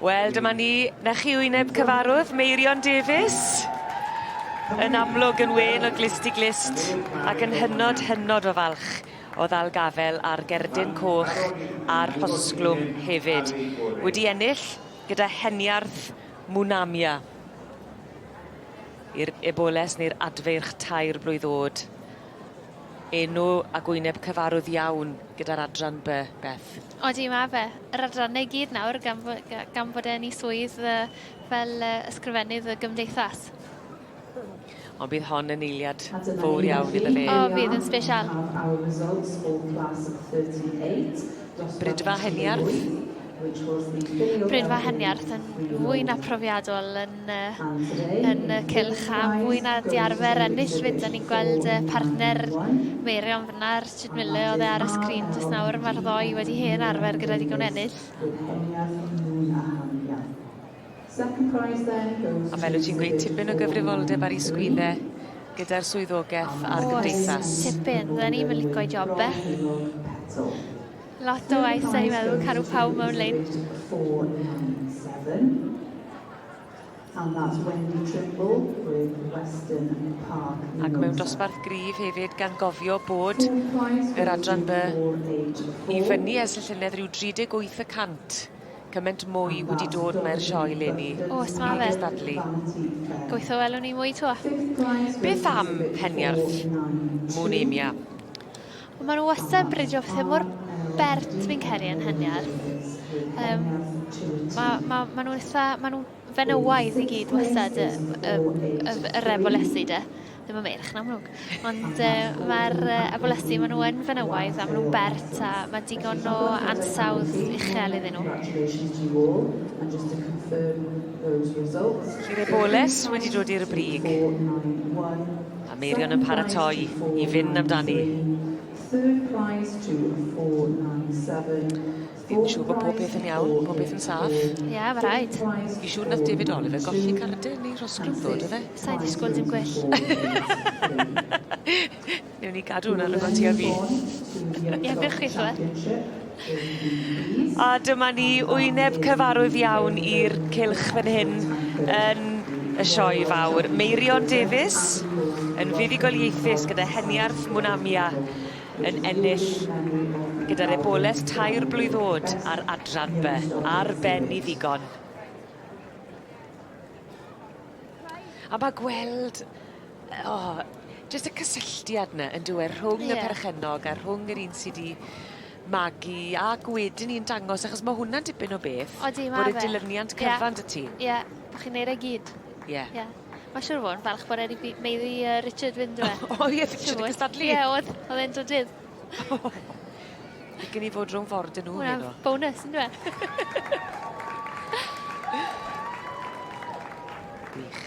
Wel dyma ni, 'na chi wyneb cyfarwdd Meirion Davies. Yn amlwg yn wên o glust i glust ac yn hynod hynod o falch o ddal gafel ar gerdyn coch a'r rhosglwm hefyd. Wedi ennill gyda heniarth Munamia i'r Eboles neu'r Adfeirch tair blwydd o'd. Enw ag wyneb cyfarwdd iawn gyda'r adran By, Beth? Odi, mae fe. Yr adrannau i gyd nawr gan, gan fod e'n ei swydd fel ysgrifennydd y gymdeithas. Ond bydd hon yn eiliad fawr iawn iddo fe. O, bydd yn sbesial. Brydfa Heniarth? Brydfa Heniarth yn fwy na profiadol yn yn y yn y cylch a mwy na di arfer ennill fyd a ni'n gweld y partner Meirion fyna ar Richard Mille oedd e ar y sgrin jyst nawr mae'r ddoi wedi hen arfer gyda digon ennill. A fel wyt ti'n gweud tipyn o gyfrifoldeb ar ei sgwydde gyda'r swyddogaeth a'r gymdeithas. Oes, tipyn. Fydden ni'm yn lico'i job e. Lot o waith da ni'n meddwl caru pawb mewn lein. And that's Wendy Trimble with Western Park. Ac mewn dosbarth gryf hefyd gan gofio bod yr adran by i fyny ers y llynedd rhyw 38 y cant. Cyment mwy wedi dod mae'r sioe leni. O, os ma fe. Dadlu. Goitho welwn ni mwy to. Beth am peniarth? Mwn emia. Wel, maen nhw wastad yn bridio pethau mor bert fi'n credu yn hyniaeth. Um, mae ma, ma nhw'n eitha, ma nhw fenywaidd i gyd wastad y, y, y, y refolesi de. Ddim yn meirch yn amlwg. Ond uh, mae'r uh, abolesi, maen nhw yn fenywaidd a maen nhw'n bert a mae digon o ansawdd uchel iddyn nhw. Lle mae Boles wedi dod i'r brig. A Meirion yn paratoi i fynd amdani. Fi'n siŵr bod pob peth yn iawn, pob peth yn saff. Ie, yeah, fe rhaid. Fi'n siŵr nath David Oliver golli cardyn neu rhosgrwm ddo, do fe? Sa'i disgwyl dim gwell. Newn ni gadw hwnna rhwng ti a fi. Ie, wych gweithio. A dyma ni, wyneb cyfarwydd iawn i'r cylch fan hyn yn y Sioe Fawr. Meirion Davies yn fuddugoliaethus gyda heniarth Mwynamia yn ennill gyda'r ebolaeth tair blwydd oed ar adran by. Ar ben i ddigon. A ma' gweld o jyst y cysylltiad 'ny on'd yw e rhwng... Ie. ...y perchennog a rhwng yr un sy 'di magu ac wedyn 'ny yn dangos achos ma' hwnna'n dipyn o beth... Odi ma' fe. ...bod y dilyniant cyfan 'dy ti. Ie ie bo' chi'n neud e gyd. Ie. Ie. Ma' siŵr o fo' yn falch bod e 'di by- meiddi yy Richard fynd yw e? O ie cystadlu. Ie o'dd o'dd e'n drydydd. Fi gen i fod rhwng ford y nhw heno. Wel, bonus, yndyw e? Wych.